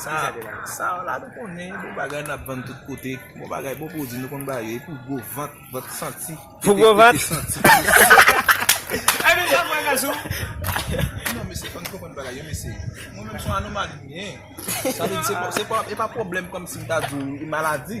Sa w la nou konnen bon bagay nap vann tout kote bon bagay bon pwodwi nou konn bay yo epou gwo vant vant santi pou gwo vant tete santi epi jan mwen gen sou non mesye fò nou konprann bagay yo mesye mwen menm son anomali mwen ye sa vle di se pa pwoblèm kòmsi m ta di w e maladi.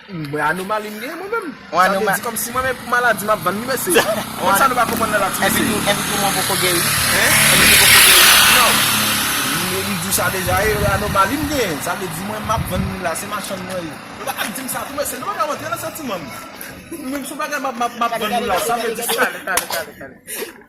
Mwen anomali m genyen mwen menm. Sa vle di kòm si mwen menm pou maladi map vann li mesye. Moun sa nou pa konprann nan la ti mesye yo. Epi poumon poko geri. Hein? Epi li poko geri. Non. M diw sa deja e anomali m genyen. Sa vle di mwen map vann li la se machann mwen ye. Nou pa ka ap dim sa tou mesye. Nou pa ka rantre nan santiman m. Mwen m son bagay map vann nou la sa vle di se. Tale tale tale tale.